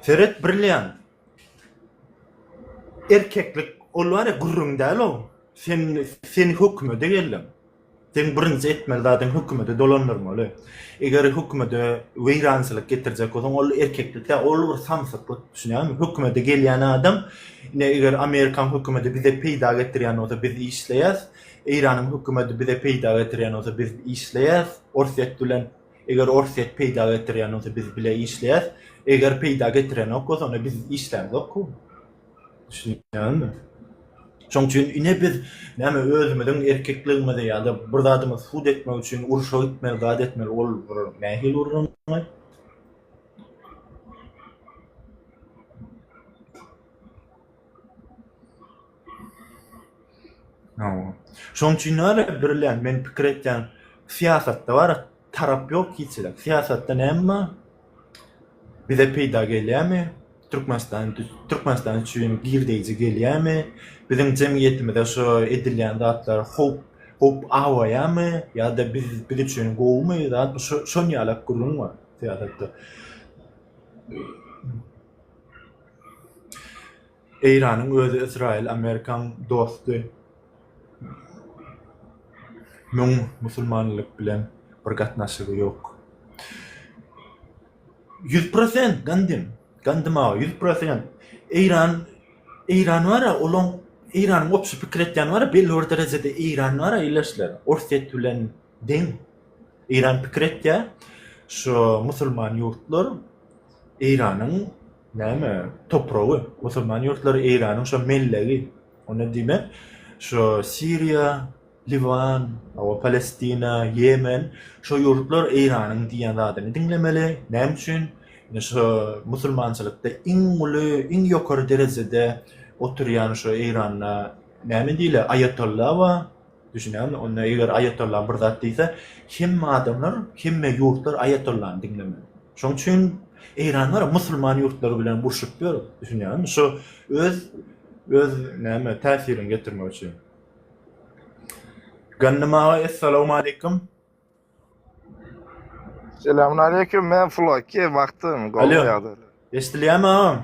Seret Brilliant. Erkeklik ol bar ya gürrüň däl o. Sen seni hökümede geldim. Sen birinji etmeli zadyň hökümede dolandyrmaly. Eger hökümede weýrançylyk getirjek bolsaň, ol erkeklik däl, ol bir samsyklyk, düşünýäňmi? Hökümede gelýän adam, ine eger Amerikaň hökümedi bize peýda getirýän bolsa biz işleýäs, Eýranyň hökümedi bize peýda getirýän bolsa biz işleýäs, Orsýet bilen Eger orsýet peýda getirýän bolsa biz bile işleýäs. Eger peýda getirenok bolsa onda biz işlämzokku. Düşünýäňizmi? Şoň üçin ine biz näme özümiziň erkekligimizi ýa-da bir zadymy subut etmek üçin urşa gitmeli, zat etmeli ol bir nähili gürrüňi? Şoň üçin näme birlen men pikir etýän syýasatda bar tarap ýok hiçlik syýasatda näme bar bize peýda gelýärmi türkmenistan türkmenistan üçin girdeýji gelýärmi biziň jemgyýetimize şu edilýän zatlar howp howp awaýamy ýa-da biz biz üçin gowumy zat şu şon ýaly gürrüň bar syýasatda. Eýranyň özi Ysraýyl Amerikaň dosty. Müň musulmanlyk bilen bir gatnaşygy ýok. Ýüz prosent gandym. Gandym aga ýüz prosent. Eýran Eýran bara olaň Eýranyň opşy pikir etýän bara belli bir derejede Eýran bara ileşler. Orsýet bilen deň. Eýran pikir etýä. Şu musulman ýurtlar Eýranyň Näme? Topragy? Musulman ýurtlary Eýranyň şo mellegi. Onda diýmek, şo Siriýa, Liwan, hawa Palestina, Ýemen, şo ýurtlar Eýranyň diýen zadyny diňlemeli. Näme üçin? Ine şo musulmançylykda iň uly, iň ýokary derejede oturýan şo Eýranda näme diýle, aýatolla bar. Düşünýäňmi? Onda eger aýatolla bir zat diýse, hemme adamlar, hemme ýurtlar aýatollany diňlemeli. Şoň üçin Eýran gara musulman ýurtlary bilen urşup ýör. Düşünýäňmi? Şo öz öz näme täsirini getirmek üçin. Ganymaga essalawmaleýkim. Selamun aleyküm, men Floki, wagtym, gowy ýagdaý. Eşdilýärmi agam?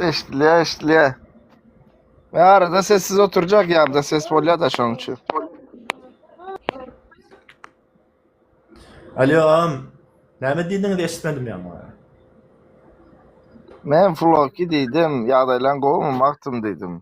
Eşdilýär, eşdilýär. Men arada sessiz oturjak ýanda ses bolýar-da şonuň üçin. Alo agam, näme diýdiňiz eşitmedim ýaňa. Men Floki diýdim, ýagdaýlaň gowumy, wagtym diýdim.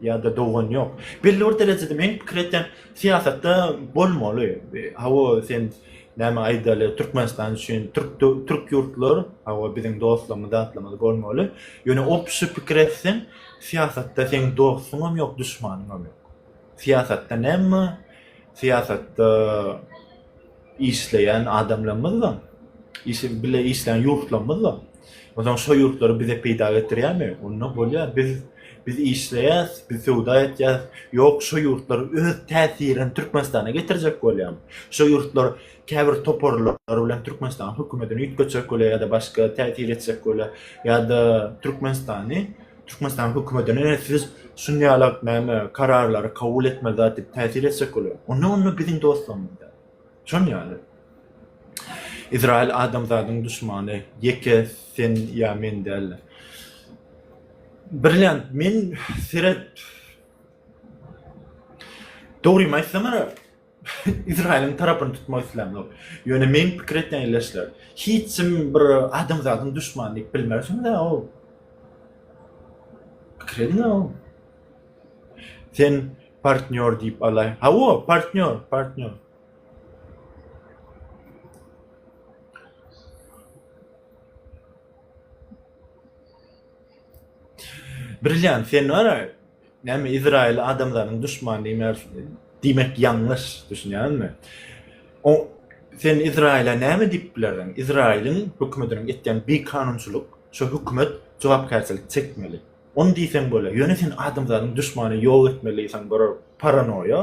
Ýa-da dogan ýok. Belli bir derejede men pikir etýän, syýasatda bolmaly. Hawa, sen näme aýdaly, Türkmenistan üçin türk türk ýurtlar, hawa, biziň dostlarymyz, zatlarymyz bolmaly. Ýöne obşi pikir etseň, syýasatda seň dostuňam ýok, duşmanyňam ýok. Syýasatda näme? Syýasatda işleýän adamlarymyzdyr. Işi bile işleýän ýurtlarymyzdyr. Onsoň şo ýurtlary bize peýda getirýärmi? Onda bolýar. Biz biz işleýäs, biz söwda etýäs. Ýok, şo ýurtlar öz täsirini Türkmenistana getirjek bolýarmy? Şo ýurtlar käbir toparlar bilen Türkmenistanyň hökümetini üýtgetjek bolýar ýa-da başga täsir etjek bolýar ýa-da Türkmenistany Türkmenistan hökümetine siz şun ýala näme kararlary kabul etmeli zat dip täsir etjek bolýar. Onda onda biziň dostlarymyz däl. Şon ýaly. Izrail adamzadyň duşmany ýeke sen ýa men däldir. Brilliant men seret Dogrymy aýtsamara Izrailiň tarapyny tutmak islämok. Ýöne meň pikir etýän ýerleşler, hiç kim bir adamzadyň duşmany diýip bilmersiň da o. Pikir ediň o. Sen partnýor diýip alaý. Hawa, partnýor, partnýor. Brilliant sen wara Näme Izraýyl adamlarynyň duşmany diýmär diýmek ýalňyş, düşünýäňizmi? O sen Izraýyla näme diýip bilersiň? Izraýylyň hökümetiniň etýän bikanunçylyk, şo hökümet jogapkärçilik çekmeli. Ony diýseň bolar, ýöne sen adamzadyň duşmany ýok etmeli diýseň bolar, paranoýa.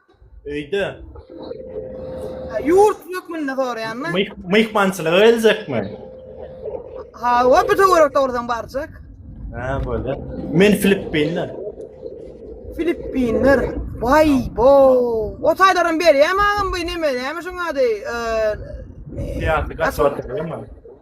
Öýde. Ýurt hökmünde soraýanmy? Myh, myhmançylyga geljekmi? Hawa, bu töwerek dogrudan barjak. Ha, bolýar. Men Filippinler. Filippinler. Vay bo. O taýlaram berýär magam bu neme näme şuň ady? Eee, Siyasi kaçak atylýar mı?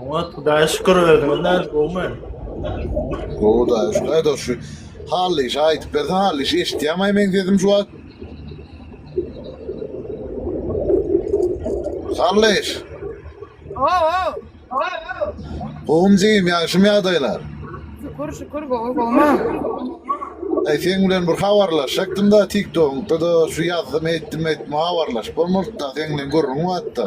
Oňat Hudaýa şükür özüňiz nädip gowumy? Gowy da, şunaý da şu hally işi aýdyp berse hally işi eşitýämaý meň sesim şu wagt. Hally iş. Gowum jigim ýagşym ýagdaýlar. Şükür şükür gowy gowma. Ay sen bilen bir habarlaşacakdym da TikTok'da da şu ýazdym etdim etme habarlaşyp bolmadyk da sen bilen gürrüň batda.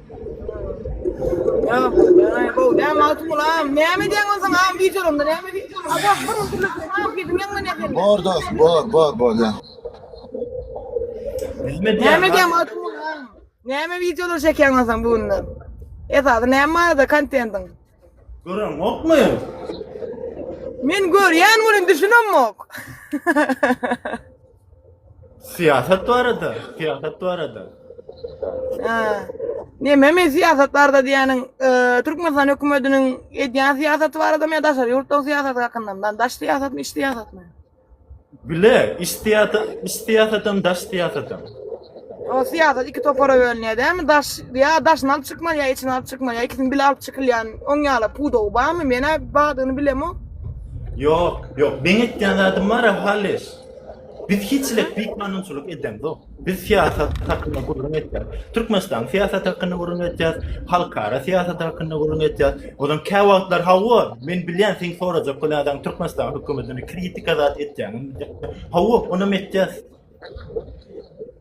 Bor dost, bor, bor, bor ya. Bilmedi ya. Näme diýen atym ulan? Näme wideolar çekýäň lan sen bu günler? Esasy näme barada kontentiň? Gören yok mu? Men görýän welin düşünemok. Siyasat bu arada. Siyasat bu arada. Neme men siyasat barada diýäniň, e, Türkmenistan hökümetiniň edýän syýasaty baradamy ýa daşary ýurtlaryň syýasaty hakynda? Lan daş syýasatmy, iç syýasatmy? Bile, iç siyasat, iç siyasatam, daş siyasatam. O syýasat iki topara bölünýär dämi? Daş ýa daşyny alyp çykmaly ýa içini alyp çykmaly ýa ikisini bile alyp çykylýan oň ýala pudagy barmy? Men-ä badyny bilemok. Yok, yok. Men etýän zadym bar, halis. Biz hiçlik büyük kanunçylyk eden yok. Biz siýasat hakkında gürrüň etýär. Türkmenistan siýasat hakkında gürrüň etýär. Halkara siýasat hakkında gürrüň etýär. Ozan kä wagtlar hawa, men bilýän sen sorajak bu adam Türkmenistan hökümetini kritika zat etýäňmi? Hawa, onam etýär.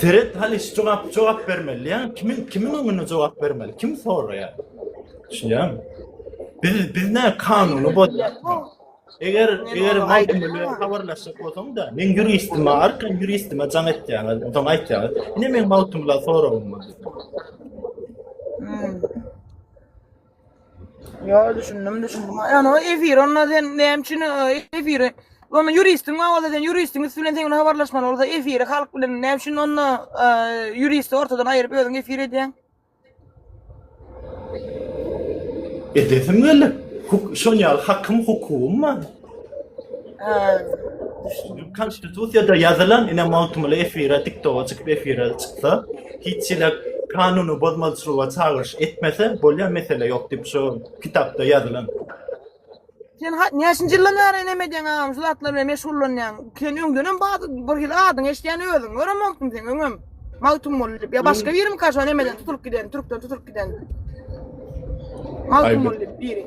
Seret halis jogap jogap bermeli ýa kimin kimin öňünde jogap bermeli kim soraýa şuýam biz biz ne kanuny bozýak eger eger maýdy bilen habarlaşyp bolsaň da men ýuristim bar kim ýuristim jaň etýär ondan aýtýar ine men maýdy bilen soragym bar hmm. Ýa düşündim, düşündim. Ýa no efir, onda sen näme üçin e, efiri? Onda ýuristiň bar bolsa sen ýuristiň üstü bilen sen bilen habarlaşmaly bolsa efiri halk bilen näme üçin onda e, ýuristi ortadan aýryp özüň efir edýäň? Edesim gelip, huk şol ýaly hakym, hukugym bar. Konstitusiýada ýazylan ine magtymguly efire tiktoga çykyp efire çyksa hiç hili kanuny bozmalyçylyga çagyryş etmese bolýa mesele ýok diýip şu kitapda ýazylan. Sen ha- näçinji ýyldan bäri enem edýäň agam şu zatlar bilen meşgullanýaň. Sen öňdenem bar bir hili adyňy eşidýän özüň. Görem bolupdym sen öňem. Magtymguly diýip. Ýa başga birim kaşo nemeden tutulyp giden, türkden tutulyp giden. Magtymguly diýip biri.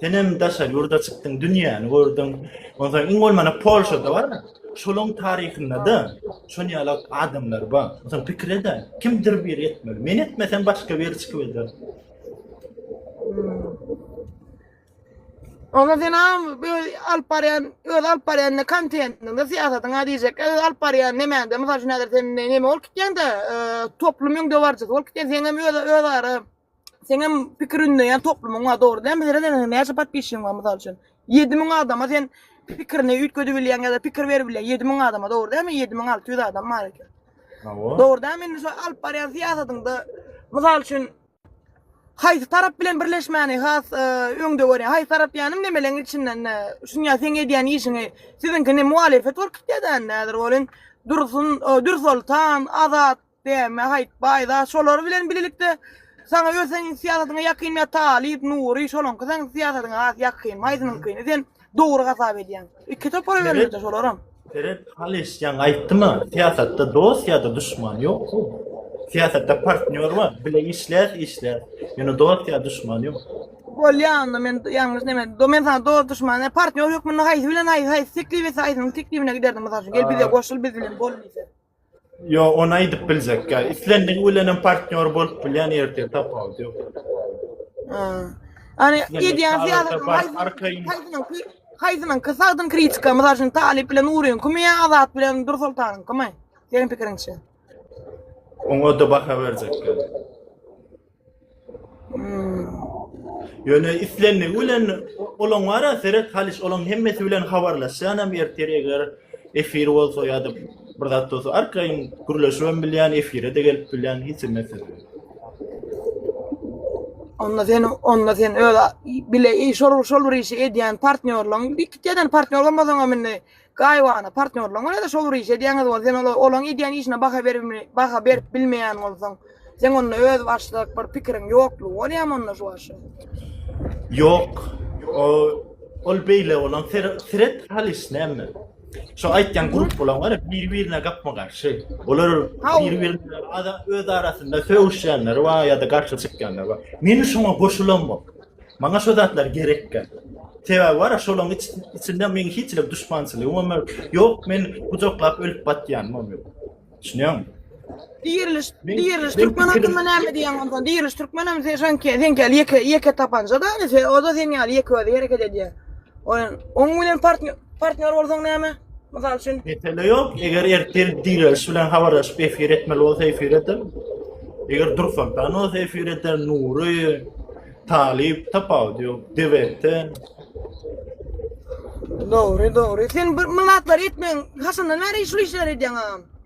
Senem daşary ýurda çykdyň, dünýäni gördüň. Onsoň iň bolmanda Polşada bar. Şolaryň taryhynda-da şon ýaly adamlar bar. Onsoň pikir eder, kimdir biri etmeli. Men etmesem başga biri çykyp eder. Onda sen am öz alyp barýan, öz alyp barýan kontentiňde syýasatyň ha diýjek. Öz alyp barýan nemäňde, mysal üçin häzir sen neme bolup gitýäň-de, e, toplumyň dowarjysy bolup gitýän, sen hem öz öz ara Seňem pikir ündeýän toplumyň bar dogry däl meselem seniň näçe podpisçigiň bar mysal üçin ýedi müň adama sen pikirini üýtgedip bilýäň ýa-da pikir berip bilýäň ýedi müň adama dogry dälmi ýedi müň alty ýüz adam bar eken Hawa. dogry dälmi indi şo alyp barýan syýasatyňda mysal üçin haýsy tarap bilen birleşmäni has e, öňde görýäň haýsy tarap ýanym nemeleň içinden ne şuň ýa seň edýän işiňi siziňki ne muhalefet bolup gitýär-de indi häzir bolin dursun e, dürsoltan azat Däme haýt baýda şolar bilen bilelikde saňa öz seň syýasatyňa ýakyn ýa talyp nury şolaňky seň syýasatyňa has ýakyn maýzynyňkyny sen dogry hasap edýäň iki topara bölünýär şolaram Seret Halis ýaňy aýtdyma syýasatda dost ýa-da duşman ýok bu. Syýasatda partnýor bar, bile işläs işläs. Ýöne dost ýa duşman ýok. Bolýa onda men ýalňyş näme do men sana dost duşman ne partnýor hökmünde haýsy bilen haýsy haýsy teklip etse haýsynyň teklibine giderdim mysal üçin gel bize goşul biz bilen bol diýse. Yo, onu aýdyp biljek. Ya, islendiň bilen hem partnýor bolup bilýän ertir tapawut ýok. Hani edýän syýasat haýsynyň ki haýsynyň ki sagdyn kritika, mysal üçin Talip bilen Nuryň kimi ýa Azat bilen Dur Soltanyň kimi? Seniň pikiriňçe? Oňa da baha berjek. Ýöne islenmegi bilen olaň wara seret halyş olaň hemmesi bilen habarlaşýan hem ertir eger efir bolsa ýa-da bir zat bolsa arkaýyn gürleşip hem bilýän efire-de gelip bilýän hiç zat mesele. Onda sen onda sen öz bile şol şol bir işi edýän partnýorlaryň iki tane partnýor bolmasaň hem indi Gaýybana partnýorlaryňa ýa-da şol bir iş edýäňiz bolsa, sen olaň edýän işine baha berip baha berip bilmeýän bolsaň, sen onda özbaşdak bir pikiriň ýoklugy bolýamy onda şu wagşy? Ýok. O ol beýle bolan seret hal iş näme? Şu aýtýan grup bolan bar, bir-birine gapma-garşy. Olar bir-birine ada öz arasynda sögüşýänler bar ýa-da garşy çykýanlar bar. Meni şoňa goşulan bor. Maňa şu zatlar gerekkä. Sebäbi bar, şolaň içinde meň hiç bir duşmançylygym hem ýok. Ýok, men gujaklap ölüp batýanym hem ýok. Düşünýäňmi? Diriliş, diriliş türkmen hakkında näme diýýäň onda? Diriliş türkmen hem sen sen ýeke ýeke tapanja da, o da sen ýaly ýeke özi hereket edýär. Oýun, oň bilen partnýor partnýor bolsaň näme? Mysal üçin, Mesele yok. Eger ertel diýleriş bilen habarlaşyp efir etmeli bolsa efir eder. Eger Dursultan olsa efir eder, Nury, Talip tapawudy yok. DVT. dogry, dogry. Sen bir mylatlary etmeň. Haçandan bäri şul işleri edýäň agam?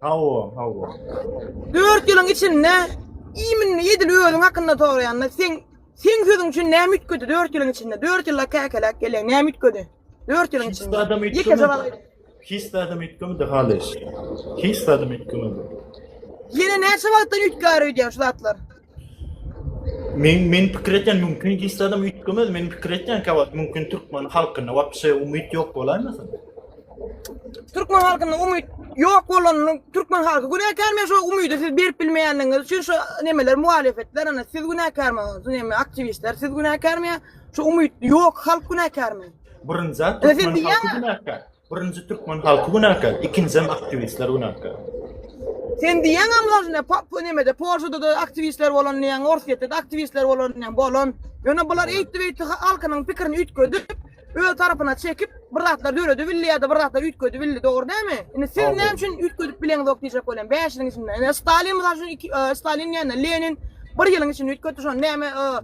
Hawa, hawa. Dört ýylyň içinde iýminini edil özüň hakynda soraýanda sen sen sözüň üçin näme üýtgedi dört ýylyň içinde? Dört ýylla käkeläp gelýäň, näme üýtgedi? Dört ýylyň içinde. Hiç adam Ýeke jogap aýt. üýtgemedi. Hiç adam üýtgemedi halyş. Hiç adam üýtgemedi. Ýene näçe wagtdan üýtgär öýdýän şu zatlar? Men men pikir etýän mümkin gysda adam üýtgemez. Men pikir etýän ki, wagt mümkin türkmen halkynda wapşe umyt ýok bolaýmasyn? Türkmen halkynda umyt ýok bolanyny türkmen halky günäkär men şu umydy siz berip bilmeýänligiňiz üçin şu nemeler muhalefetler ana siz günäkärmi? Şu neme aktiwistler siz günäkärmi? Şu umyt ýok halk günäkärmi? Birinji zat türkmen halky günäkär. Birinji türkmen halky günäkär, ikinjisem aktiwistler günäkär. Sen diýýäňem lažne, pa, pa nimede, Polşada-da aktiwistler bolan diýýäň, Orsýetde-de aktiwistler bolan diýýäň, bolan. Ýöne bular eýtdi-beýtdi ha- halkynyň pikirini üýtgedip, öz tarapyna çekip, bir zatlar döredibildi ýa-da bir zatlar üýtgedibildi, dogry dälmi? Indi siz Dogry. näme üçin üýtgedip bileňzok diýjek bolýan, bäş ýylyň içinde. Ine, Stalin, mysal üçin, iki, e, Stalin diýende, Lenin bir ýylyň içinde üýtgetdi, şony näme, e,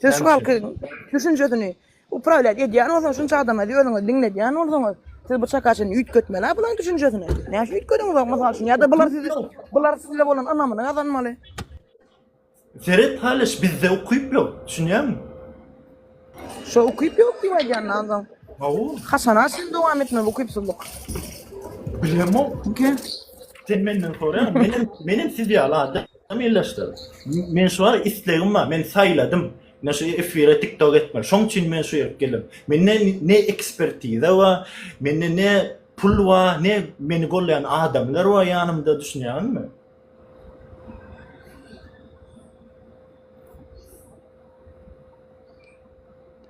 Siz şu halkyň düşünjesini uprawlýat edýän bolsaňyz, şunça adama özüňizi diňledýän bolsaňyz, siz bu çakaçyny üýtgetmeli-ä bularyň düşünjesini. Näme üçin üýtgediňizok, mysal üçin? Ýa-da bular sizi, bular size bolan ynamyny gazanmaly. Seret halyş, bizde ukyp ýok, düşünýäňmi? Şo ukyp ýok diýip aýdýandan soň, Hawa, haçana çenli dowam etmeli bu ukypsyzlyk? bilemok. Okey. Sen menden soraýaň, menem, menem siz ýaly adam. Kim ýylaşdyr? Men şu bar islegim bar. Men saýladym. Men şu efire TikTok etmeli. Şoň üçin men şu ýere geldim. Mende ne ekspertiza bar, mende ne pul bar, ne meni golleýän adamlar bar ýanymda, düşünýäňizmi?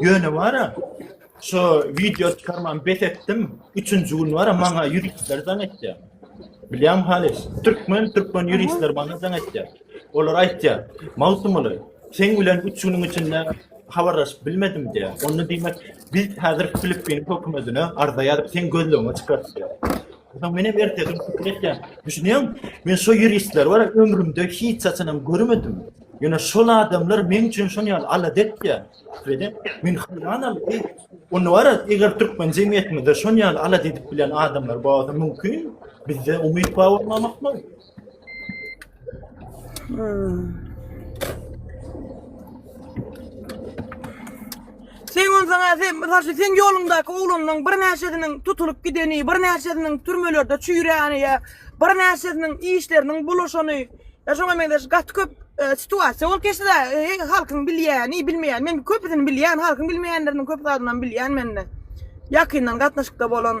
Ýöne wara şu wideo çykarman bes etdim. Üçünji gün wara maňa ýuristler daň etdi. Bilýän halis, türkmen türkmen ýuristler maňa daň etdi. Olar aýtýar, Magtymguly, sen bilen üç günüň içinde habarlaşyp bilmedim diýär. Onda diýmek, biz häzir Filippin hökümetine arza ýazyp sen gözlegiňe çykar diýär. Ondan men hem ertesi gün pikir etdim. Düşünýäň? Men şu ýuristler bar, ömrümde hiç haçanam görmedim. Ýöne şol adamlar meň üçin şon ýaly alada etýär. Bede men hyranam. Onda bar, eger türkmen jemgyýetimizde şon ýaly alada edip bilen adamlar bolsa mümkin, bizde umyt bar bolmamak mı? Sen ondan sen mesela sen yolundaki oğlunun bir neşesinin tutulup gideni, bir neşesinin türmelerde çüyreni ya bir neşesinin işlerinin buluşanı Ya şoňa meňzeş gaty köp e, situasiýa bolup geçdi da e, halkyň bilýäni, bilmeýäni. Men köpüsini bilýän, halkyň bilmeýänleriniň köp zadyny hem bilýän mende. Ýakyndan gatnaşykda bolan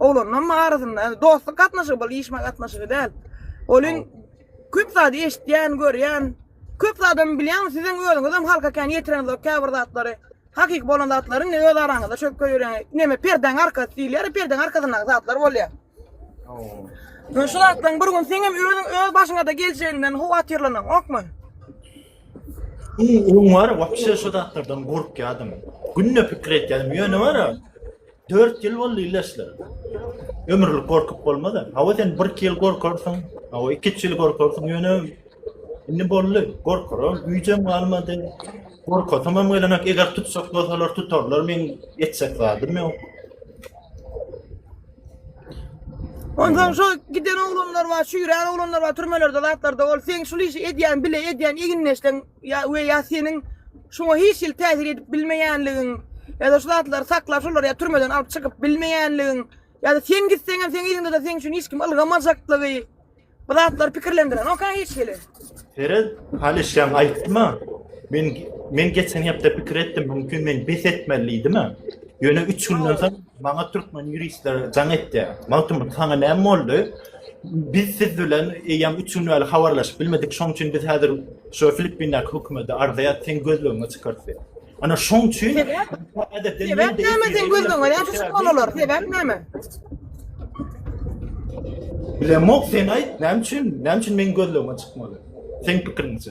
oglanlaryň arasynda yani dostluk gatnaşygy bol, işme gatnaşygy däl. Olin köp zady eşitýän, görýän, köp zady hem bilýän, siziň özüňiz hem halka kän ýetireňizok käbir zatlary. Hakyky bolan zatlary indi öz araňyzda çözüp görýäňiz. Neme perdäň arkasy diýilýär, perdeň arkasyndaky zatlar bolýar. Ooo. Şu zatlaryň bir gün sen hem özüň öz başyňa da geljeginden howatyrlanyň, okmy? Onuň wara wapşe şu zatlardan gorkýadym. Günde pikir etýädim. Ýöne wara Dört ýyl boldy illeşler. Ömürlik gorkup bolmaz-a. Hawa sen bir iki ýyl gorkarsyň, hawa iki üç ýyl gorkarsyň ýöne indi boldy. Gorkaram güýjem galmady. Gorkasam hem gelenek eger tutsak bolsalar tutarlar men etjek zadym ýok. Ondan şu giden oglanlar var, şu ýüren oglanlar var, türmelerde, zatlarda ol. Sen şu işi edýän, bile edýän, eginleşsen, Ýa we ýa seniň şoňa hiç hili täsir edip bilmeýänligiň, ýa-da şu zatlary saklap, şolary ýa türmeden alyp çykyp bilmeýänligiň, ýa-da sen gitseň hem seň yzyňda-da seň üçin hiç kim ylgamajaklygy bu zatlar pikirlendirenokka hiç hili. Perez, Hany şeň aýtma. Men men geçen hepde pikir etdim, mümkin men bes etmeli diýdimi? Ýöne üç günden soň maňa türkmen ýuristleri jaň etdi. Magtymguly saňa näme boldy? Biz siz bilen eýýäm üç gün bäri habarlaşyp bilmedik. Şoň üçin biz häzir şu Filippindäki hökümete arz edýär, sen gözlegiňi çykart diýip. Ana şoň üçin Sebäp? Sebäp näme sen gözlegiňi näçe çykmaly olar? Sebäp näme? Bilemok sen aýt, näme üçin? Näme üçin meniň gözlegime çykmaly? Seň pikiriňçe.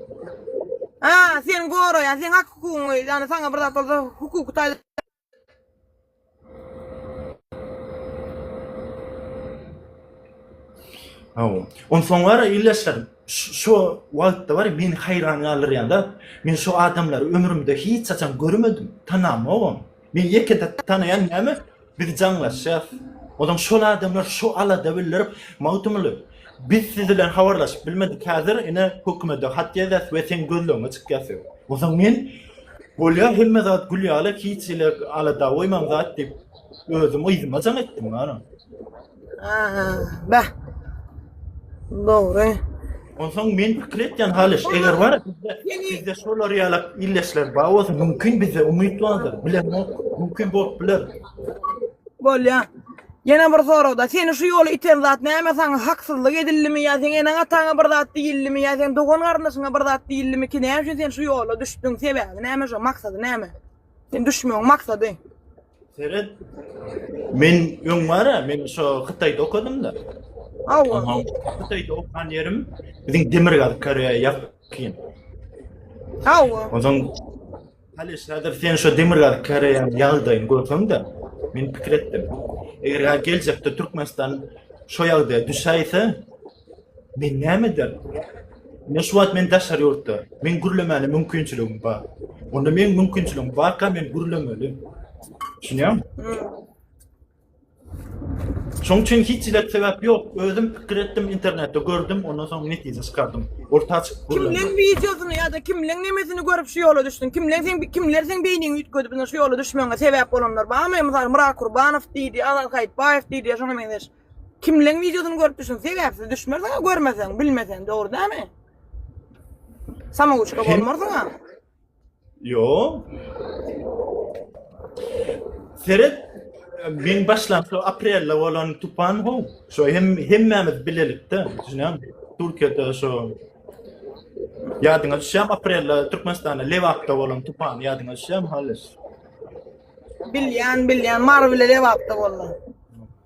Ha, sen goraýan, sen hak hukugyňy, ýani saňa bir zat bolsa hukuky taýdan Hawa. On soň gara ildeşler şu wagtda bar meni haýran galdyrýanda men şu adamlary ömrümde hiç haçan görmedim, tanamogam. Men ýeke zat tanaýan näme biz jaňlaşýas. Ozan şol adamlar şu alada bildirip Magtymguly biz siz bilen habarlaşyp bilmedik häzir ine hökümede hat ýazýas we seň gözlegiňe çykýas diýip. Ozan men bolýa hemme zat gül ýaly hiç ile alada goýmaň zat diýip özüm yzyma jaň etdim gana. Aha, bah. Dogry. Onsoň men pikir etýän halyş, eger bar, bizde şolar ýaly illeşler bar bolsa, mümkin bizde umyt bardyr. Bilemok, mümkin bolup biler. Bolýa. Ýene bir soragda, seni şu ýola iten zat näme? Saňa haksyzlyk edildimi ýa seň eneň-ataňa bir zat diýildimi ýa seň dogan-garyndaşyňa bir zat diýildimi ki, näme üçin sen şu ýola düşdüň? Sebäbi näme şu? Maksady näme? Sen düşmegiň maksady? Seret. Men öň bara, men şu Hytaýda okadym-da. Hawa. Hytaýda okan ýerim biziň demir gaz Koreýa ýakyn. Hawa. Ondan Halis, häzir sen şu demir gaz Koreýanyň ýagdaýyny görseň-de, men pikir etdim. Eger geljekde Türkmenistan şu ýagdaýa düşäýse, Men näme ederin? Ine şu wagt men daşary ýurtda. Meň gürlemäne mümkinçiligim bar. Onda meň mümkinçiligim barka men gürlemeli. Düşünýäňmi? Şoň üçin hiç hili sebäp ýok. Özüm pikir etdim, internetde gördüm, ondan soň netije çykardym. Orta açyk gürlemek. Kimleň wideosyny ýa-da kimleň nemesini görüp şu ýola düşdüň? Kimleň sen kimler seň beýniňi üýtgedip şu ýola düşmegiňe sebäp bolanlar barmy? Mysal Myrat Kurbanow diýdi, Azat Haýytbaýew diýdi, şoňa meňzeş. Kimleň videosyny görüp düşün? Sebäpsiz düşmersiň, görmeseň, bilmeseň, dogry dämi? Samouçka bolmarsyň ha. Yo. Seret men başlansa aprelde bolan tupan ho. Şo hem hemmämiz bilelikde, düşünýän. Türkiýede şo Ýadyňa düşýär aprelde Türkmenistanda Lebapda bolan tupan ýadyňa düşýär halis. Bilýän, bilýän, Mary bile Lebapda boldy.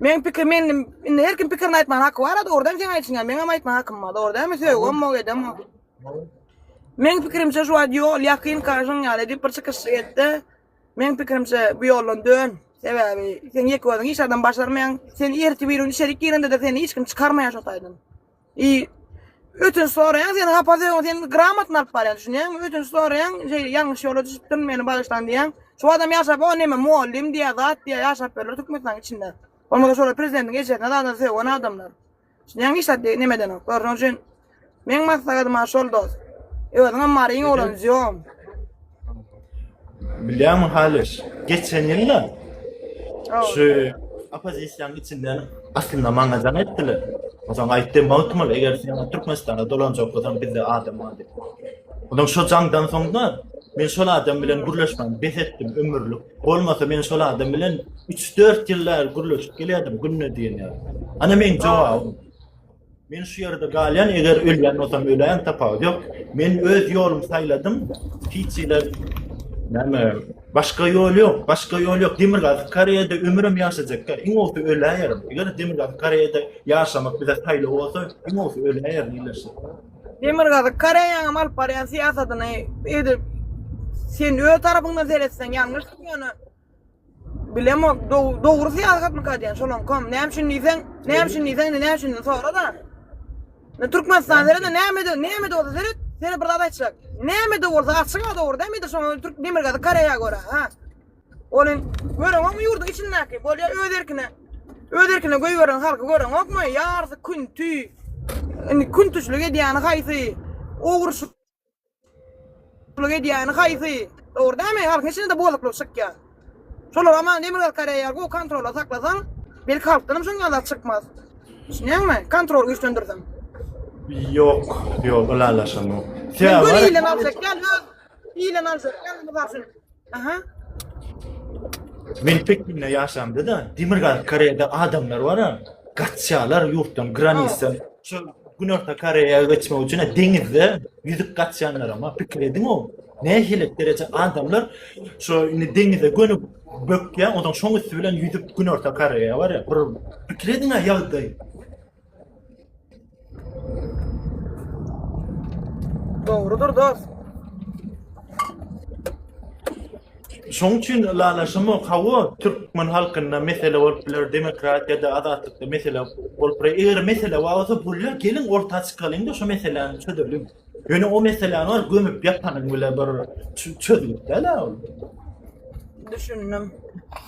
Men pikir men indi her kim pikirini aýtmagyna haky bar-a dogrudan sen aýtýaň, meňem aýtma hakym bar, dogry dälmi? Söýgem bok, edem bok. Meň pikirimçe şu wagt ýol ýakyn kaşyň ýaly edip bir çykyşlyk etde. Meň pikirimçe bu ýoldan dön. Sebäbi sen ýeke özüň hiç adam başarmaýaň. Sen ertir bir gün içerik girende-de seni hiç kim çykarmaýar şo taýdan. I ötünç soraýan sen hapa döwün sen gramatny alyp barýan düşünýäňmi ötünç soraýan şey ýalňyş ýola düşüpdim meni bagyşlan diýýän şu adam ýaşap o neme mugallym diýýä zat diýýä ýaşap berler türkmenistanyň içinde bolmasa şolar prezidentiň ejesine zada söwen adamlar düşünýäňmi hiç zat diýip neme edenok şonuň üçin meň maslahatym ha şol dost özüňem maryň oglan jon Bilýärmiň Halyş, geçen ýylda şu oppozisiýanyň içinden aslynda maňa jaň etdiler. Ozaň aýtdy, Magtymguly, eger sen Türkmenistana dolanjak bolsaň, bizde adam bar diýip. Ozaň şo jaňdan soňda men şol adam bilen gürleşmän bes etdim ömürlik. Bolmasa men şol adam bilen 3-4 ýyl bäri gürleşip gelýärdim günde diýen ýaly. Ana meň jogabym. Men şu ýerde galýan, eger ölýän bolsam öläýen tapawut ýok. Men öz ýolumy saýladym. Hiç ýere näme başga ýol ýok, başga ýol ýok. Demirgazyk Koreýada ömrüm ýaşajakka, iň bolsa öläýerim. Eger Demirgazyk Koreýada ýaşamak bize saýlaw bolsa, iň bolsa öläýerim diýilişdi. Demirgazyk Koreýanyň alyp barýan syýasatyny edip sen öz tarapyňdan seretseň ýalňyşdyr ýöne Bilemok, dogry syýahat mı kadýan şolam kom, näme üçin diýseň, näme üçin diýseň, indi näme üçin sora da. Ne Türkmenistan seret, näme de, näme de bolsa seret, seni bir zat aýtjak. Näme de bolsa açyk ha dogry dämi de şoňa Türk demir gazy Koreýa görä ha. Onuň göreňok mu ýurduň içindäki, bolýa öz erkine. Öz erkine goýberen halky göreňok mu? Ýarsy künti. Indi küntüçlik edýäni haýsy? Ogurşyk Guluk edýäni haýsy? Dogry dämi? Halkyň içinde bozuklyk çykýa. Şolar aman Demirgazyk Koreýa gowy kontrolda saklasaň, belki halkdanam şonýa zat çykmaz. Düşünýäňmi? Kontrol güýçlendirseň. Ýok, ýok, ylalaşamok. Sebäbi bar. Ile nazarken öz ile nazarken, mysal üçin, Aha. Men Pekinde ýaşamda da Demirgazyk Koreýada adamlar bar ha. Gaçýarlar ýurtdan, granisdan. Şu Günorta Koreýa geçmek üçin deňizde ýüzüp gaçýanlar ama pikir ediň o. Nähili dereje adamlar şu indi deňize gönüp bökýä, ondan şoň üsti bilen ýüzüp Günorta Koreýa bar ya. Bir pikir ediň ha ýagdaý. Dogrudyr dost. Şoň üçin lalaşymok hawa türkmen halkynda mesele bolup biler demokratiýada azatlykda mesele bolup biler eger mesele bar bolsa bular gelin orta çykalyň-da şu meseläni çözeliň ýöne o meseläni bar gömüp ýatanyň bile bir çözgüt däl-ä ol düşündim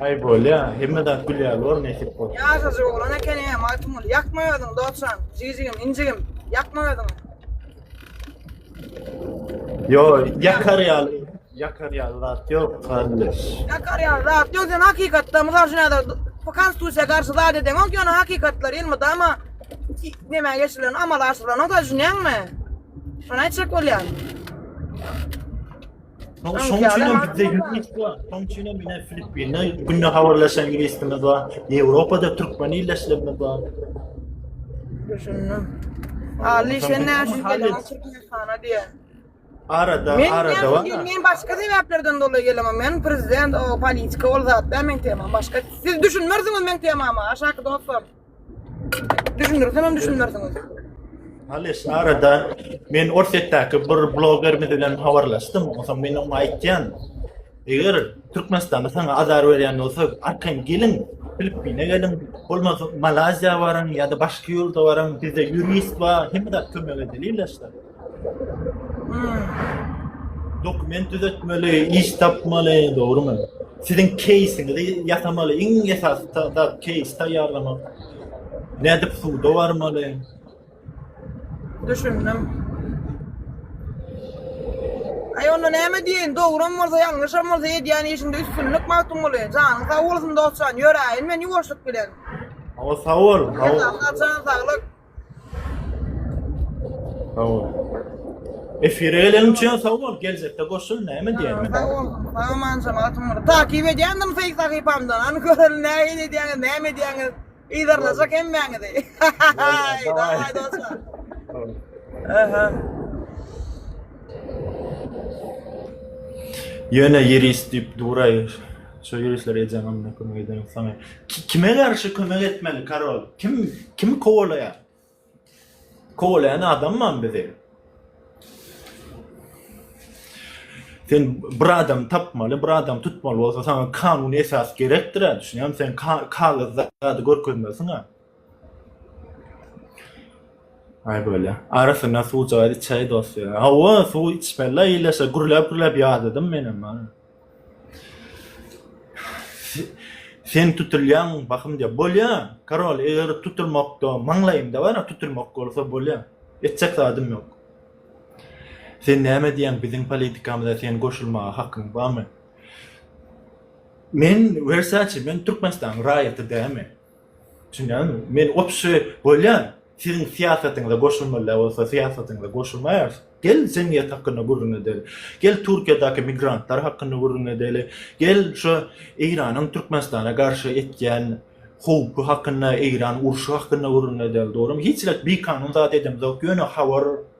Aý bolýa, hemme zat gül ýaly bor nesip bolsa. Ýaşajy oglan ekeni eýe Magtymguly. Ýakma özüňi dogsan, jijigim, injigim. Ýakma özüňi. Ýo, ýakar ýaly, ýakar ýaly zat ýok garyndaş. Ýakar ýaly zat ýok, sen hakykatda mysal üçin häzir bu konstitusiýa garşy zat edeňok, ýöne hakykatlary elmydama näme geçirilenok, amala aşyrlanok, düşünýäňmi? Şony aýtjak bolýan. Soň şoň üçin hem bizde ýüz bar. Şoň üçin hem ine Filippinler günde habarlaşan ingilisimiz bar. Ýewropada türkmen illeşlerimiz bar. Düşündim. Ali sen näşe gelen Türkmenistana diýen. Arada, Men arada bar. men, men başga sebäplerden dolayy gelemem. Men prezident o politika ol zatda men temam başga. Siz düşünmersiňiz men temama aşaky dostlar. Düşündirsem hem düşünmersiňiz. Halis, arada men Orsetdäki bir blogerimiz bilen habarlaşdym. Onsoň men oňa aýtýan, eger Türkmenistanda saňa azar berýän bolsa, arkaýyn geliň, Filippine geliň, bolmasa Malaziýa baryň ýa-da başga ýurda baryň, bizde ýurist bar, hemme zat kömek edilýär. Dokument düzetmeli, iş tapmaly, dogrumy? Siziň keýsiňizi ýasamaly, iň esasy zat keýs taýýarlamak. Nädip suwda barmaly? Düşündim. Aý onda näme diýen, dogrum bolsa, ýalňyşam bolsa edýän işinde üstünlik Magtymguly. Janyň sag bolsun dostjan, ýöräýin men ýuwaşlyk bilen. Awa sag bol. Sag bol. Saglyk. Sag bol. Efire gelen üçin sag bol. Geljekde goşul näme diýýäň? Sag bol. Saňa manjam atym bir. Takip edýändim feýk sahypamdan. Any görelim näme edýäňiz, näme edýäňiz. Yzarlajak hemmäňizi. Dawai dostlar. Aha. Ýöne ýeris diýip duraýyr. Şo ýörişleri edýän onda kömek edeniň saňa. Kime garşy kömek etmeli karol? Kim kim kowalaýar? Kowalaýan adam mam bizi. Sen bir adam tapmaly, bir adam tutmaly bolsa saňa kanun esas gerekdir ha, düşünýän sen kagyz zady görkezmesiň ha. Ay böyle. Arasına suw çay çay dost ya. Hava suw içmeli iyileşe gürlep gürlep yağladım benim. Ha. Sen tutulýaň bahym diýýär. Bolýa, karol, eger tutulmakda maňlaýymda bar, tutulmak bolsa bolýa. Etjek zadym ýok. Sen näme diýýäň, biziň politikamyza sen goşulmaga hakyň barmy? Men, Wersaçe, men Türkmenistanyň raýaty dälmi? Düşünýäňizmi? Men opşy bolýan, siziň syýasatyňyza goşulmalyda bolsa syýasatyňyza goşulmaýarys. Gel jemgyýet hakynda gürrüň edeli. Gel Türkiýedäki migrantlar hakynda gürrüň edeli. Gel şu Eýranyň Türkmenistana garşy etýän howpy hakynda, Eýran urşy hakynda gürrüň edeli dogrymy? Hiç zat bikanun zat edemizok ýöne habar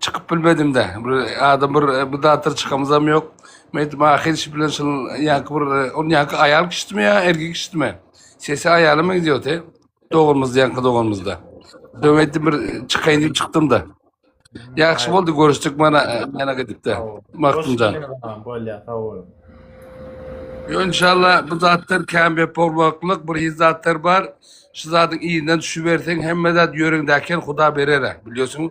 Çykyp bilmedim-de. Bir adam bir bu zatlar çykamyzam ýok. Men aýtdym, ahyr şi bilen şul ýaňky bir ol ýaňky aýal kişdimi ýa erkek kişdimi? Sesi aýala meňzeýärdi. Doganymyz ýaňky doganymyzda. Döw aýtdym bir çykaýyn diýip çykdym-da. Ýagşy boldy görüşdik mana mana gidip-de. Magtymjan. Bolýar, sag bol. Yo inşallah bu zatlar kämbe bolmaklyk bir hiç zatlar bar. Şu zadyň yzyna düşüberseň hemme zat ýöreňdäki ýer Huda berer-ä. Bilýärsiň,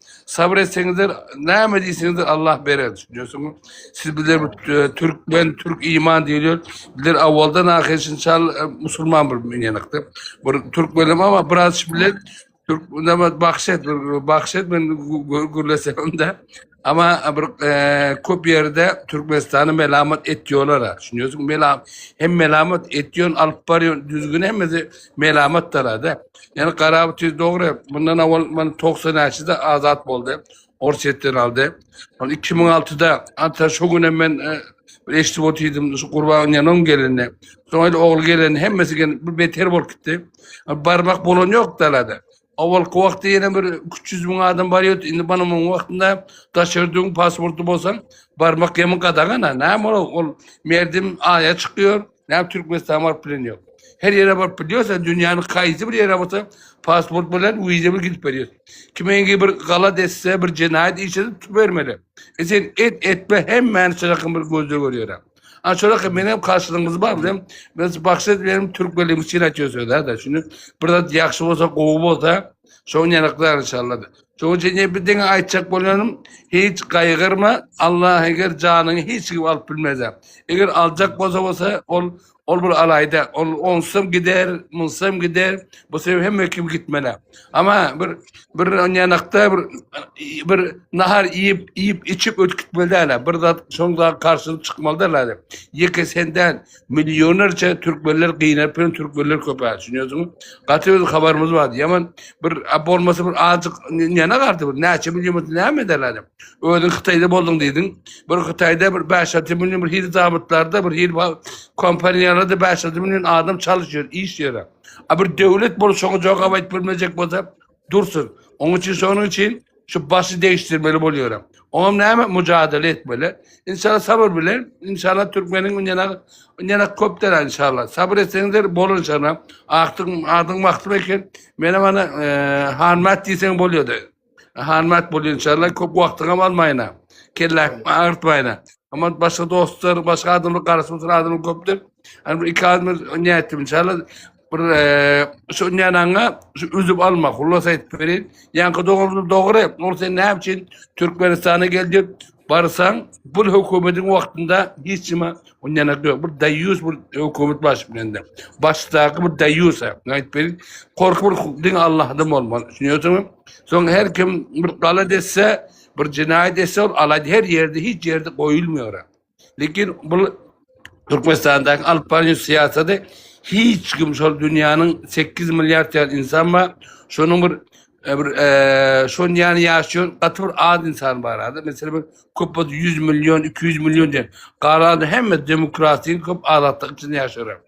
Sabr etseňizler, näme diýseňizler Allah berer, düşünýärsiňmi? Siz bizler e, türkmen, türk iman diýilýär. Bizler awaldan ahir şinçal e, musulman bir meňenekde. Bir türk bilim ama biraz bilen türk näme bahşet, bir bahşet men gürlesemde. Ama bir e, köp ýerde Türkmenistany melamat etýärler. Düşünýärsiňmi? Melam hem melamat etýän, alyp barýan düzgün hemmesi melamatdyr-da. Ýöne Garaby tüýs dogry, mundan awal men 90 näçede azat boldy. Orsýetden aldy. Ol 2006-da ata şu gün hem men e, bir eşidip otydym şu gurban ýanon gelini. Soň el ogul geleni hemmesi gel bir beter bolup gitdi. E, Barmak bolan ýok dalada. Awalky wagtda ýene bir 300 müň adam bar ýok. Indi bana muň wagtynda daşardyň pasporty bolsaň barmak ýaman gadagan ha. Näme ol? Ol merdim aýa çykýar. Näme Türkmenistana baryp bilen ýok. Her ýere baryp bilýärsen, dünýäniň haýsy bir ýere bolsa pasport bilen, wiza bilen gidip berýär. Kimeňki bir galat etse, bir jenaýat iş edip tutup bermeli. E sen et etme hemmäni çyrakyň bir gözde görýärä. Ana çyraky men hem karşylygyňyz bar bilen biz bakşy benim türkmenligimi çyn aýtýarsöz-ä da. Şuny bir zat ýagşy bolsa, gowy bolsa, Şoň ýanyklar inşallah. Şoň üçin ne bir diňe aýtjak bolanym, hiç gaýgyrma, Allah eger janyňy hiç kim alyp bilmez. Eger aljak bolsa bolsa ol ol bir alaýda, ol onsam gider, munsam gider, bu sebäp hemme kim gitmeli. Ama bir bir ýanakda bir bir nahar iýip, iýip, içip ötüp gitmeli däl. Bir zat şoň zat garşylyk çykmaly däl. Ýeke senden Millionerçe türkmenler gyýnap bilen türkmenler köpä düşünýärsiňiz. Gaty öz habarymyz bardy. Ýaman bir a bolmasa bir azjyk näne gardy bir näçe million bolsa näme eder adam. Özüň Hytaýda bolduň diýdiň. Bir Hytaýda bir 5-6 million bir hil zabytlarda bir hil kompaniýalarda 5-6 million adam çalyşýar, işleýär. A bir döwlet bolup şoňa jogap aýdyp bilmejek bolsa, Dursun. Oň üçin şonuň üçin şu başy degişdirmeli bolýaram. Oňam näme mujadele etmeli. Inşallah sabr bilen, inşallah türkmeniň ýene ýene köp däl inşallah. Sabr etseňizler bolar inşallah. Akdyň adyň wagty eken. Menem ana e, hanmat diýseň bolýardy. Hanmat bolýar inşallah. Köp wagtyňam almaýna. Kelläň agyrtmaýna. Ama başga dostlar, başga adamlar garasy oturan adamlar köpdür. Hani bir iki adam ne ettim inşallah. bir şu nänaňa şu üzüp alma hulas aýdyp berin. Ýaňky dogry dogry. Ol sen näme üçin Türkmenistana geldip barsaň bu hökümetiň wagtynda hiç nima ondan ýok. Bir daýus bir hökümet baş bilende. Başdaky bir daýus aýdyp berin. Korkup bir din Allahdan bolmaly. Düşünýärsiňmi? Soň her kim bir gala desse, bir jenaýat etse, ol alady her ýerde, hiç ýerde goýulmaýar. Lekin bu Türkmenistandaky alyp barýan syýasaty hiç kim şol dünýäniň 8 milliard ýaly insan bar. Şonuň bir e, bir e, şon ýany ýaşaýan gaty bir az insan bar hada. Mesela bir köp bolsa 100 million, 200 million diýen. Galanda hemme demokratiýa köp azatlyk içinde ýaşar.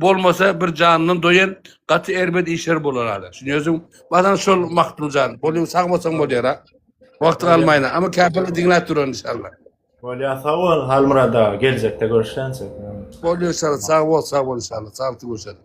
bolmasa bir jandan doýan gaty erbet işler bolar hala. Şuny özüm badan şol Maktuljan. Bolýar sag bolsaň bolýar ha. Wagtyň almaýna. Ama käpeli diňläp duran inşallah. Bolýar sag bol Halmyrat aga. Geljekde görüşýänçek. Bolýar inşallah sag bol sag bol inşallah. Saglyk görüşelim.